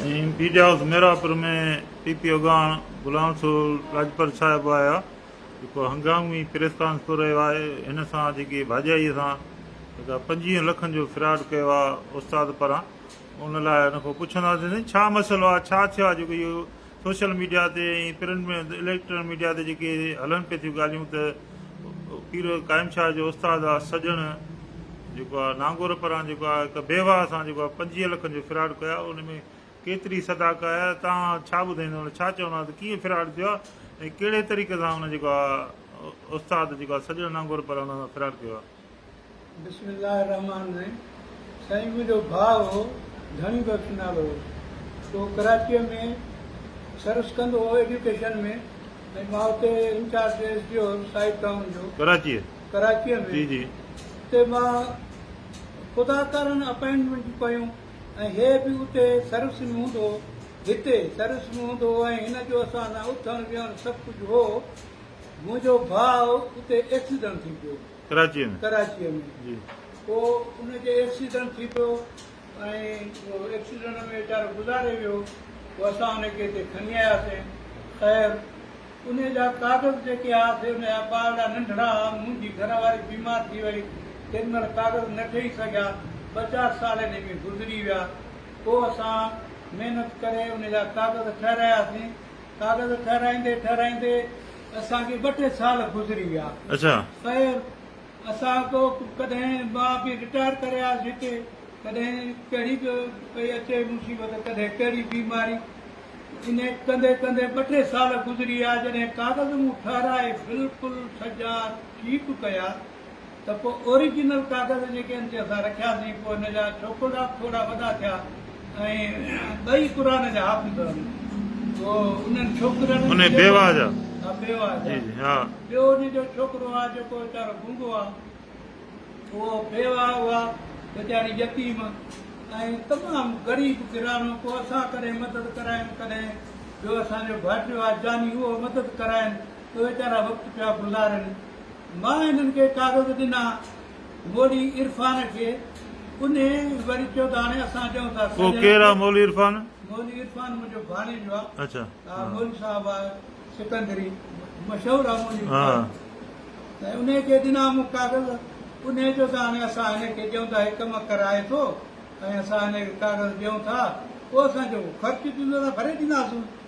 ۽ پيڊي house Mirapur ۾ P P اڳواڻ Ghulam civil Lajpat صاحب آيا جيڪو هنگامي پريس ڪانفرنس ڪري رهيو آهي هن سان جيڪي ڀاڄائيء سان جيڪا پنجويهن لکن جو فراڊ ڪيو آهي استاد پران ان لاء ان کان پڇنداسين سائين ڇا مسئلو آهي ڇا ٿيو آهي جيڪو اهو سوشل ميڊيا تي ۽ پرنٽ ۾ اليڪٽران ميڊيا تي جيڪي هلن پئي ٿيون ڳالهيون ته پير قائم شاهه جو استاد آ سڄڻ جيڪو آ نانگور پران جيڪو آ هڪ بيواهه سان جيڪو آ 25 لکن جو فراڊ ڪيو آ ان ۾ ڪيتري صداق آ تان ڇا ٻڌائيندو ان ڇا چوندا ته ڪيئن فراڊ ٿيو آ ۽ ڪهڙي طريقي سان ان جيڪو آ استاد جيڪو آ سڄڻ نانگور پران ان سان فراڊ ڪيو آ بسم الله الرحمٰن الرحيم سائين منهنجو ڀاء هو ڌڻي بخش نالو هو سو ڪراچيء ۾ سروس ڪندو هو ايڊيوڪيشن ۾ ۽ مان اتي انچارج ايس ڊي او هيس سائيڊ ٽائون جو ڪراچيء ڪراچيء ۾ جي جي اتي مان خدا ڪارڻ اپائنٽمينٽون ڪيون ۽ هي به اتي سروس ۾ هوندو هو هتي سروس ۾ هوندو هو ۽ هن جو اسان سان اٿڻ ويهڻ سڀ ڪجهه هو منهنجو ڀاء اتي ايڪسيڊنٽ ٿي پيو ڪراچيء ۾. ڪراچيء ۾. جي. پوء ان کي ايڪسيڊنٽ ٿي پيو ۽ ايڪسيڊنٽ ۾ ويچارو گذاري ويو. پوء اسان ان کي هتي کڻي آياسين. خير ان جا ڪاغذ جيڪي ها سي ان جا ٻارڙا ننڍڙا ها. منهنجي گهر واري بيمار ٿي وئي. تنهن مهل ڪاغذ نه ٺهي سگهيا. ٻه چار سال انهي ۾ گذري ويا. پوء اسان محنت ڪري ان جا ڪاغذ ٺهراياسين. ڪاغذ ٺهرائيندي ٺهرائيندي اسان کي ٻه ٽي سال گذري ويا خير اسان ڪو ڪڏهن ماء پي رٽائر ڪري آيس هتي ڪڏهن ڪهڙي به پئي اچي مصيبت ڪڏهن ڪهڙي بيماري انهي ڪندي ڪندي ٻه ٽي سال گذري ويا جڏهن ڪاغذ مون ٺهرائي بلڪل سجا ٺيڪ ڪيا ته پوء اوريجنل ڪاغذ جيڪي ان تي اسان رکياسين پوء ان جا ڇوڪرا به ٿورا وڏا ٿيا ۽ ٻئي قرآن جا حافظ هئا پوء انهن ڇوڪرن انهي بيواهه جا ها بيواهه جا جي جي ها ٻيو ان جو ڇوڪرو آ جيڪو ويچارو گونگو آ اهو بيواهه هئا ويچاري يتيم ۽ تمام غريب گهراڻو پوء اسان ڪڏهن مدد ڪرايم ڪڏهن ٻيو اسان جو ڀائٽيو آ جاني اهو مدد ڪرائين ته ويچارا وقت پيا گذارين مان هنن کي ڪاغذ ڏنا. مولي عرفان کي انهي وري چيو ته هاڻي اسان ڏيون ٿا سڄڻ کي. ڪير آ مولي عرفان؟ مولي عرفان منهنجو ڀاڻيجو آ. اچا. آ مولي صاحب آ سڪندري مشهور آ مولي عرفان. ته انهي کي ڏنا مون ڪاغذ. انهي چيو ته هاڻي اسان هن کي ڏيون ٿا هي ڪم ڪرائي ٿو ۽ اسان هن کي ڪاغذ ڏيون ٿا پوء اسان جيڪو خرچ ٿيندو اسان ڀري ڏينداسون.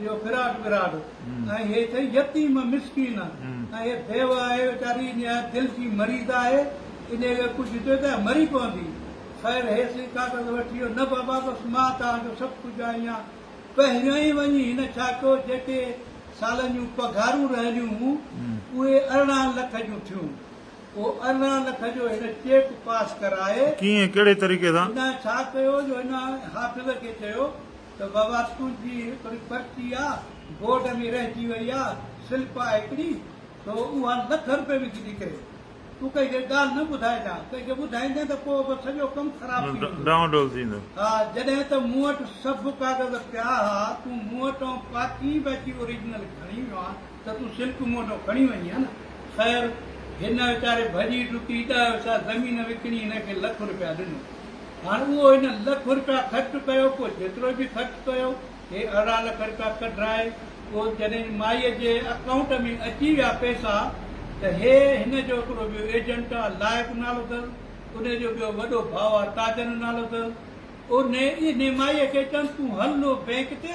اهو فراق فراق ۽ هي ٿئي يتيم مسڪين ۽ هي بيوه آهي ويچاري نهايت دل جي مريض آهي انهيء کي ڪجهه ڏيو ته مري پوندي خير هي سين ڪاغذ وٺي ويو نه بابا بس مان توهان جو سڀ ڪجهه آهيان پهريون ئي وڃي هن ڇا ڪيو جيڪي سالن جون پگهارون رهيليون هون اهي ارڙهن لک جون ٿيون اهو ارڙهن لک جو هن چيڪ پاس ڪرائي ڪيئن ڪهڙي طريقي سان؟ هن ڇا ڪيو جو هن حافظ کي چيو ته بابا تنهنجي هڪڙي پرچي آ بورڊ ۾ رهجي وئي آ سلپ آ هڪڙي سو اها لک روپيه وڪجي ڪري تون ڪنهن کي ڳالهه نه ٻڌائجان ڪنهن کي ٻڌائيندين ته پوء به سڄو ڪم خراب ٿي ويندو ڊانو ڊول ٿيندو. ها جڏهن ته مون وٽ سڀ ڪاغذ پيا ها تون مون وٽان پاڪين به اچي اوريجنل کڻي ويو ها. ته تون سلڪ مون وٽان کڻي وڃين ها نه؟ خير، هن ويچاري ڀڄي ڊڪي ڏهه حصا زمين وڪڻي هن کي لک روپيا ڏنو. هاڻ اهو هن لک روپيا خرچ ڪيو، پوء جيترو به خرچ ڪيو، هي ارڙهن لک روپيا ڪڍرائي، پوء جڏهن مائيء جي اڪائونٽ ۾ اچي ويا پئسا، ته هي هن جو هڪڙو ٻيو ايجنٽ آ لائق نالو اٿس، انهي جو ٻيو وڏو ڀاء آ تاجن نالو اٿس. انهي مائيء کي چيائونس، تون هل لو بئنڪ تي،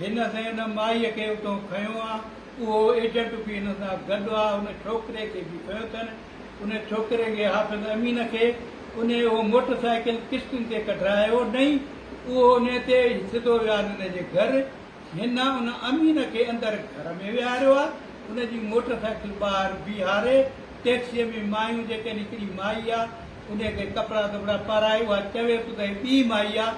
هن سندس مائيء کي اتون کنيو آ، اهو ايجنٽ به هن سان گڏ آ، ان ڇوڪري کي به کنيو اٿن، ان ڇوڪري کي حافظ امين کي، انهيء اهو موٽر سائيڪل قسطن تي ڪڍرايو نئي، اهو انهيء تي سڌو ويان ان جي گهر، هن ان امين کي اندر گهر ۾ ويهاريو آ، ان جي موٽر سائيڪل ٻاهر بيهاري، ٽيڪسيء ۾ مايون جيڪن هڪڙي مائي آ، انهيء کي ڪپڙا ڌٻڙا پارائي، اها چويس ته هي ٻي مائي آ،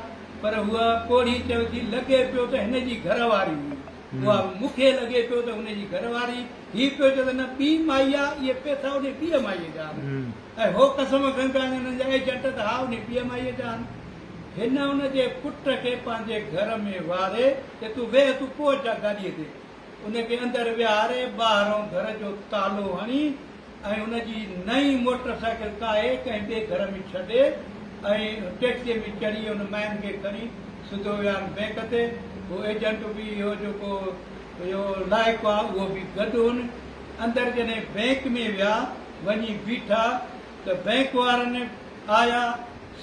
پر هوء پوڙهي چيو ٿي، لڳي پيو ته هن جي گهر واري هئي. اها مون کي لڳي پيو ته هن جي گهر واري. هي پيو چئي ته نه، ٻي مائي آ. اهي پئسا انهيء ٻيء مائيء جا آهن. ۽ هو قسم کڻي ٿو آڻي انهن جا ايجنٽ ته ها انهيء ٻيء مائيء جا آهن. هن ان جي پٽ کي پنهنجي گهر ۾ ويهاري چيو، تون ويهه، تون پهچ جا گاڏيء تي. ان کي اندر ويهاري، ٻاهرئون گهر جو تالو هڻي، ۽ ان جي نئين موٽر سائيڪل ڪاهي ڪنهن ٻئي گهر ۾ ڇڏي ۽ ٽيڪسيء ۾ چڙهي ان مئن کي کڻي سڌو ويان بئنڪ تي. هو ايجنٽ به اهو جيڪو اهو لائق هئا اهو به گڏ هن. اندر جڏهن بئنڪ ۾ ويا وڃي بيٺا ته بئنڪ وارن آيا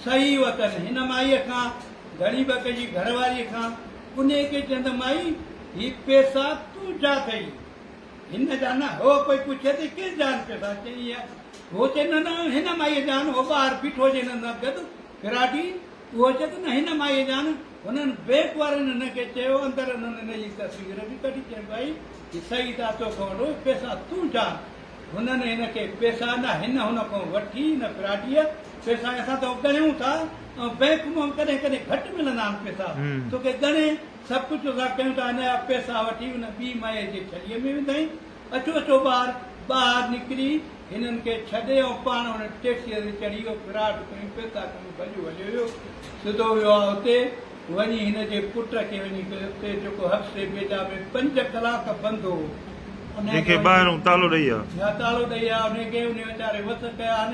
سهي وتن هن مائيء کان گهڻي به ڪجي گهر واريء کان انهيء کي چيندا مائي هي پئسا تون ڇا ڪئي؟ هن جا نه هو ڪوئي پڇي ته ڪين جان پيو سان چئي هي هو چئي نه نه هن مائي جان هو ٻاهر بيٺو جي هن سان گڏ فراڊي اهو چئي ته نه هن مائي جان هنن بينڪ وارن هن کي چيو اندر هنن هن جي تصوير به ڪڍي چئي بائي هي سعيد آ تو کان وڏو پيسا تون جان هنن هن کي پيسا نه هن هن کان وٺي هن فراڊيء پيسا اسان تو ڳڻيون ٿا ۽ بينڪ مان ڪڏهن ڪڏهن گهٽ ملندا آهن پيسا توکي ڳڻي سڀ ڪجهه ادا ڪيون ته انهيء اپي ساهه وٺي ان ٻي مئي جي ڇليء ۾ وڌائين. اچو اچو ٻار! ٻاهر نڪري هنن کي ڇڏي ۽ پاڻ هن ٽيڪسيء تي چڙهي اهو فراٽ کڻي پيتا ڪنو ڀڄيو هليو ويو. سڌو ويو آ اتي وڃي هن جي پٽ کي وڃي ڪيو اتي جيڪو حبسي بيجا ۾ پنج ڪلاڪ بند هو. جنهن کي ٻاهرون تالو ڏئي آ. تالو ڏئي آ انهيء کي انهيء ويچاري وس ڪيا آهن.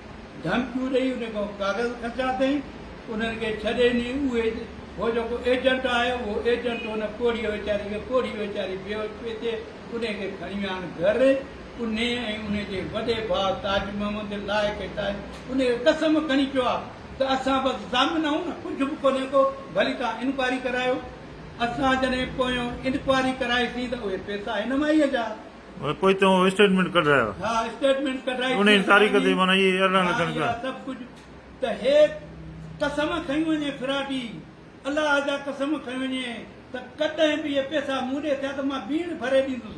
ڌمڪيون ڏئي انهن کان ڪاغذ کسيا اٿئين، انهن کي ڇڏي ني اهي هو جيڪو ايجنٽ آهي اهو ايجنٽ ان پوڙهيء ويچاري کي پوڙهي ويچاري بيهوش پئي ٿئي انهي کي کڻي ويا آهن گهر انهي ۽ انهي جي وڏي ڀاء تاج محمد لائق ۽ تاج انهي کي قسم کڻي چيو آهي ته اسان بس ضامن آهون نه ڪجهه به ڪونهي ڪو ڀلي توهان انڪوائري ڪرايو اسان جڏهن پويون انڪوائري ڪرائي سين ته اهي پئسا هن مائيء جا پوء تون اسٽيٽمينٽ ڪڍرايو. ها اسٽيٽمينٽ ڪڍرائي ٿي انهي تاريخ تي اسانجي. معنيٰ اهي اعلان ها لکڻ اها ڪيا. سڀ ڪجهه ته هي قسم کنئي وڃي فراڊي الله جا قسم کنئي وڃي ته ڪڏهن به اهي پيسا مون ڏي ٿيا ته مان بيڻ ڀري ڏيندس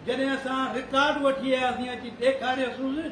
جڏهن اسان رڪارڊ وٺي آياسين اچي ڏيکاريوسونس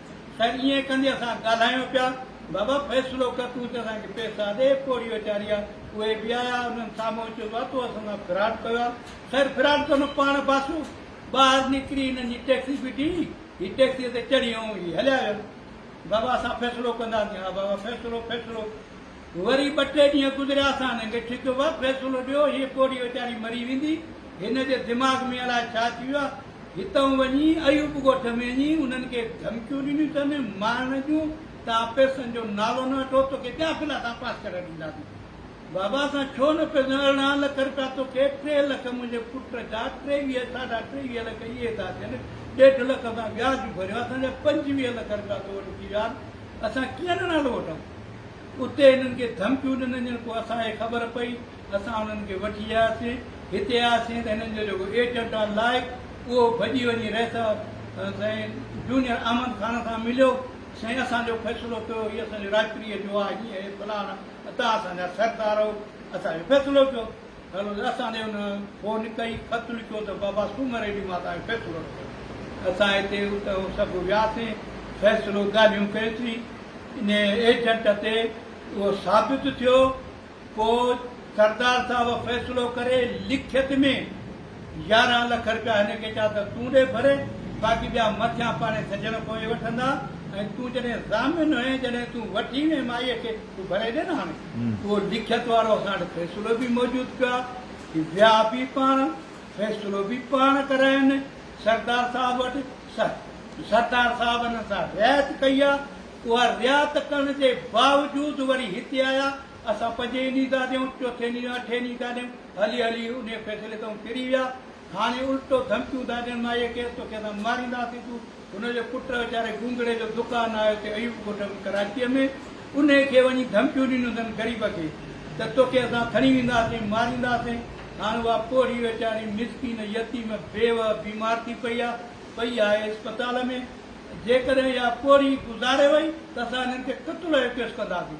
خير ائين ڪندي اسان ڳالهايون پيا. بابا فيصلو ڪر تون چئه اسان کي پيسا ڏي پوڙهي ويچاري آ. اهي به آيا انهن سامهون اچي چيو تو اسان سان فراڊ ڪيو آ. خير فراڊ ته نه پاڻ باسو ٻاهر نڪري هنن جي ٽيڪسي بيٺي هي ٽيڪسيء تي چڙهي ۽ هي هليا ويا. بابا اسان فيصلو ڪنداسين ها بابا فيصلو فيصلو. وري ٻه ٽي ڏينهن گذريا سان ننگ ڇڪ و فيصلو ڏيو هيء پوڙهي ويچاري مري ويندي هن جي دماغ ۾ الائي ڇا ٿي ويو آهي هتئون وڃي ايوب ڳوٺ ۾ وڃي انهن کي ڌمڪيون ڏنيون اٿن مارڻ جون ته آء پئسن جو نالو نه وٺو توکي ٻيا ڦلا اسان پاس ڪري ڏينداسين بابا اسان ڇو نه پئسن ارڙهن لک رپيا توکي ٽي لک منهنجي پٽ جا ٽيويهه ساڍا ٽيويهه لک اهي ادا ٿين ڏيڍ لک اسان وياج ڀريو آهي اسان جا پنجويهه لک رپيا تو وٽ ٿي ويا آهن اسان ڪيئن نه نالو وٺون اتي هنن کي ڌمڪيون ڏنن جن پوء اسان کي خبر پئي اسان هنن کي وٺي آياسين هتي آياسين ته هنن جو جيڪو ايجنٽ آهي لائق اهو ڀڄي وڃي رئيس سائين جونيئر احمد خان سان مليو سائين اسان جو فيصلو ڪيو هي اسان جو راڄپريء جو آهي هيئن فلاڻ توهان اسان جا سردار آهيو اسان جو فيصلو ڪيو ته اسان ڏي ان فون ڪئي، خط لکيو ته بابا سومر ئي ڏينهن مان اسان کي فيصلو نه ڪيو. اسان هتي اتي سڀ وياسين، فيصلو ڳالهيون ڪيسين. انهيء ايجنٽ تي اهو ثابت ٿيو، پوء سردار صاحب فيصلو ڪري لکيت ۾ يارهن لک رپيا هن کي چا ته تون ڏي ڀري، باقي ٻيا مٿيان پاڻهي سڄڻ پوي وٺندا ۽ تون جڏهن ضامن هئين، جڏهن تون وٺي وئين مائيء کي، تون ڀري ڏي نه هاڻي. اهو لکيت وارو اسان وٽ فيصلو به موجود پيو آهي، هي ويا به پاڻ، فيصلو به پاڻ ڪراين سردار صاحب وٽ، سردار صاحب انهن سان رعايت ڪئي آهي، اها رعايت ڪرڻ جي باوجود وري هتي آيا، اسان پنجين ڏينهن ٿا ڏيون، چوٿين ڏينهن، اٺين ڏينهن ٿا ڏيون، هلي هلي انهي فيصلي تائون ڦري ويا، هاڻي الٽو ڌمڪيون ٿا ڏين مايڪي توکي اسان مارينداسين، تون هن جو پٽ ويچاري گونگڙي جو دڪان آهي اتي ايوب ڳوٺ ۾ ڪراچيء ۾ انهيء کي وڃي ڌمڪيون ڏنيون اٿن غريب کي ته توکي اسان کڻي وينداسين مارينداسين هاڻ اها پوڙهي ويچاري مسڪين يتيم بيوه بيمار ٿي پئي آهي پئي آهي اسپتال ۾ جيڪڏهن اها پوڙهي گذاري وئي ته اسان هنن کي قتل جو ڪيس ڪنداسين.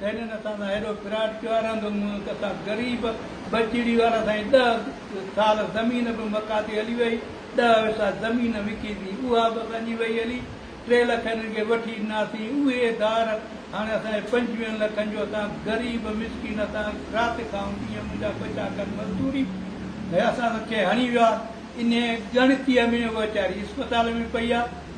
سينن اسان سان هيڏو فراڊ ڪيو آهي رند منهن اسان غريب بچڙي وارا سائين ڏهه سال زمين به مڪا تي هلي وئي ڏهه حصا زمين وڪي ٿي اها به اسان جي وئي هلي ٽي لک هنن کي وٺي ڏناسين اهي ڌار هاڻي اسان جي پنجويهن لکن جو اسان غريب مسڪين اسان رات کائون ڏينهن منهنجا ٻچا ڪن مزدوري اسان کي هڻي ويا انهي ڳڻتي ۾ ويچاري اسپتال ۾ پئي آهي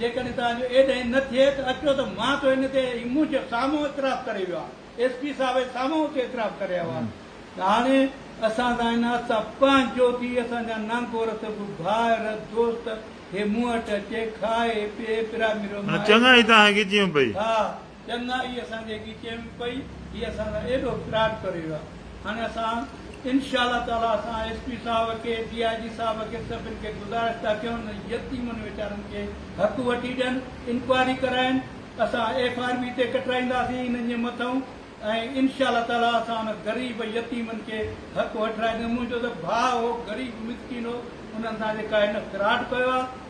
جيڪڏهن توهان جو ايد هين نه ٿئي ته اچو ته مان ٿو ان تي هي منهن جو سامهون اعتراف ڪري ويو آهيان. ايس پي صاحب اهي سامهون اٿي اعتراف ڪري آيو آهي ته هاڻي اسان سان هن حد سان پنهنجو ٿي اسان جا نانگور سڀ ڀائر دوست هي مون وٽ اچي کائي پي پراميرو مان ايترو چڱائي تان هينگي جيون پئي. ها چندا، هي اسان کي اڳي چيم پئي، هي اسان سان ايڏو فراڊ ڪري ويو آهي، هاڻي اسان انشاء الله تعاليٰ اسان ايس پي صاحب کي، ڊي آء جي صاحب کي سڀن کي گذارش ٿا ڪيون انهن يتيمن ويچارن کي حق وٺي ڏين، انڪوائري ڪرائين، اسان ايف آر بي تي ڪٽرائينداسين انهن جي مٿئون ۽ انشاء الله تعاليٰ اسان انهن غريب يتيمن کي حق وٺرائينداسين، منهنجو ته ڀاء هو غريب مسڪين هو، انهن سان جي ڪا هن فراڊ ڪيو آهي.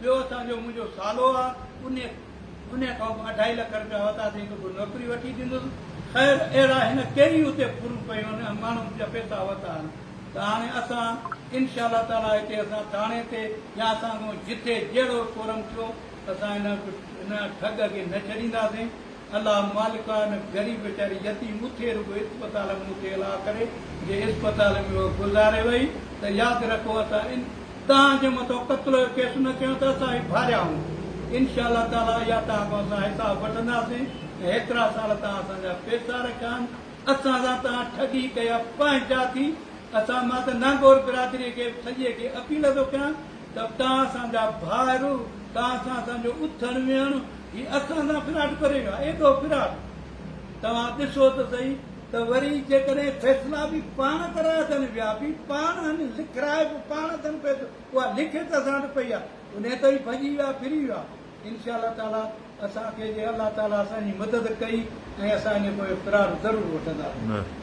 ٻيو اسان جو منهنجو سالو آ، انهيء انهيء کان به اڍائي لک رپيا ورتا تنهن کي ڪو نوڪري وٺي ڏنس. خير اهڙا هن ڪيري اتي ڦرون ڪيون آهن ۽ ماڻهن جا پيسا ورتا آهن ته هاڻي اسان ان شاء الله تعاليٰ هتي اسان ٿاڻي تي يا اسان کان جتي جهڙو ڪورم ٿيو اسان هن هن ٺڳ کي نه ڇڏينداسين الله مالڪا ان غريب ويچاري يتيم اٿي رڳو اسپتال ۾ مونکي الا ڪري جي اسپتال ۾ اهو گذاري وئي ته ياد رکو اسان ان توهان جي مٿو قتل جو ڪيس نه ڪيون ته اسان هي ڀاريائون انشاء الله تعالي اها توهان کان اسان حساب وٺنداسين ۽ هيترا سال توهان اسان جا پيسا رکيان اسان سان توهان ٺڳي ڪئي اهي پنهنجا ٿي اسان مان ته نانگور برادري کي سڄي کي اپيل ٿو ڪيان ته تان اسان جا ڀائر، تان سان اسان جو اٿڻ ويهڻ، هي اسان سان فراڊ ڪري ويا، ايڏو فراڊ! توهان ڏسو ته سهي ته وري جيڪڏهن فيصلا به پاڻ ڪرائي اٿن ويا به پاڻ هن، لکرائي به پاڻ اٿن پئي ٿو، اها لکي ته اسان وٽ پئي آهي، انهي ته هي ڀڄي ويا، ڦري ويا. انشاء الله تعاليٰ اسان کي جي الله تعاليٰ اسان جي مدد ڪئي ۽ اسان جي پوء فراڊ ضرور وٺنداسين.